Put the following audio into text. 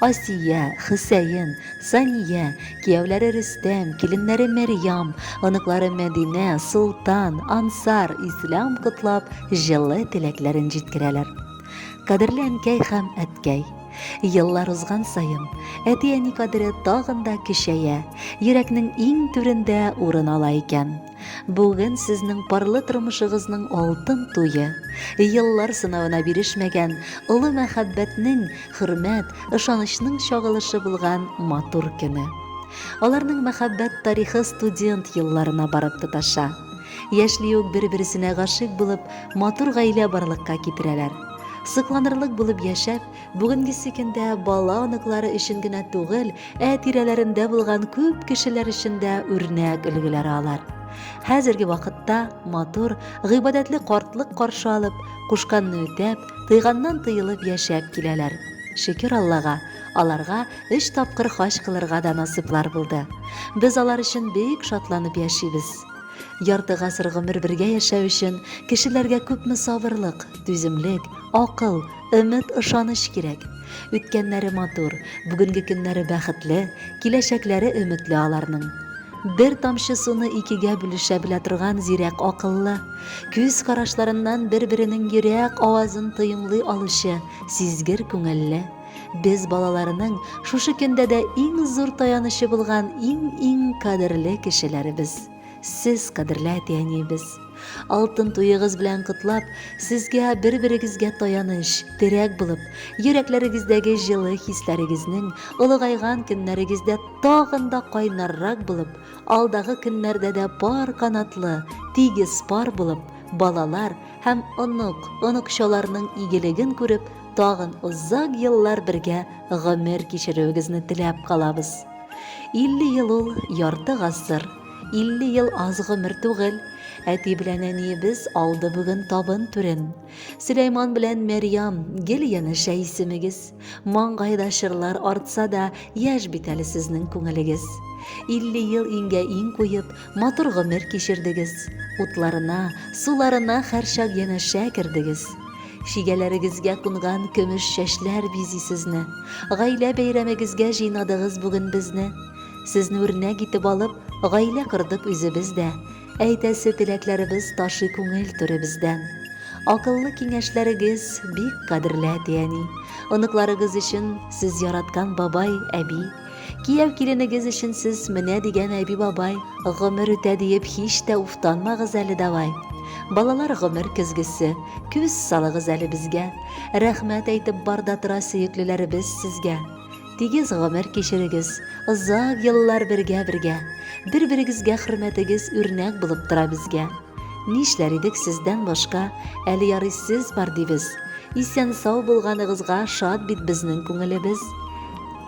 Асия, Хөсәен, Сания, кияүләре Рөстәм, киленнәре Мәрьям, оныклары Мәдинә, Солтан, Ансар, Ислам котлап, җылы теләкләрен җиткерәләр. Кадерле әнкәй һәм әткәй! Еллар узган саен, әти-әни кадере тагын да көчәя, йөрәкнең иң түрендә урын ала икән. Бүген сезнең парлы тормышыгызның алтын туе. Еллар сынавына бирешмәгән, олы мәхәббәтнең, хөрмәт, ышанычның чагылышы булган матур көне. Аларның мәхәббәт тарихы студент елларына барып тоташа. Яшьли үк бер-берсенә гашыйк булып, матур гаилә барлыкка китерәләр. Сокланырлык булып яшәп, Бүгенгесе көндә бала оныклары өчен генә түгел, ә тирәләрендә булган күп кешеләр өчен дә үрнәк өлгеләр алар. Хәзерге вакытта матур, гыйбадәтле картлык каршы алып, кушканны үтәп, тыйганнан тыелып яшәп киләләр. Шөкер Аллага, аларга өч тапкыр хаҗ кылырга да насыйплар булды. Без алар өчен бик шатланып яшибез. Ярты гасыр гомер бергә яшәү өчен кешеләргә күпме сабырлык, түземлек, акыл, Өмет, ышаныч кирәк. Үткәннәре матур, бүгенге көннәре бәхетле, киләчәкләре өметле аларның. Бер тамчы суны икегә бүлешә белә торган зирәк акыллы, күз карашларыннан бер-беренең йөрәк авазын тоемлый алучы сизгер күңелле без балаларының шушы көндә дә иң зур таянычы булган иң-иң кадерле кешеләребез. Сез, кадерле әти-әниебез, алтын туегыз белән котлап, сезгә бер-берегезгә таяныч, терәк булып, йөрәкләрегездәге җылы хисләрегезнең олыгайган көннәрегездә тагын да кайнаррак булып, алдагы көннәрдә дә пар канатлы, тигез пар булып, балалар һәм онык, оныкчаларның игелеген күреп, тагын озак еллар бергә гомер кичерүегезне теләп калабыз. 50 ел ул ярты гасыр, 50 ел аз гомер түгел. Әти белән әниебез алды бүген табын түрен. Сөләйман белән Мәрьям, гел янәшә исемегез. Маңгайда чырлар артса да, яшь бит әле сезнең күңелегез. 50 ел иңгә иң куеп, матур гомер кичердегез. Утларына, суларына хәрчак янәшә кердегез. Чигәләрегезгә кунган көмеш чәчләр бизи сезне. Гаилә бәйрәмегезгә җыйнадыгыз бүген безне. Сезне үрнәк итеп алып, гаилә кордык үзебез дә. Әйтәсе теләкләребез ташый күңел түребездән. Акыллы киңәшләрегез бик кадерле әти-әни. Оныкларыгыз өчен сез яраткан бабай, әби, Кияү киленегез өчен сез менә дигән әби бабай гомер үтә диеп һич тә уфтанмагыз әле давай. Балалар гомер көзгесе, күз салыгыз әле безгә. Рәхмәт әйтеп бар да тора сөеклеләребез сезгә. Тигез гомер кичерегез, озак еллар бергә бергә. Бер-берегезгә хөрмәтегез үрнәк булып тора безгә. Нишләр идек сездән башка, әле ярый сез бар дибез. Исән-сау булганыгызга шат бит безнең күңелебез.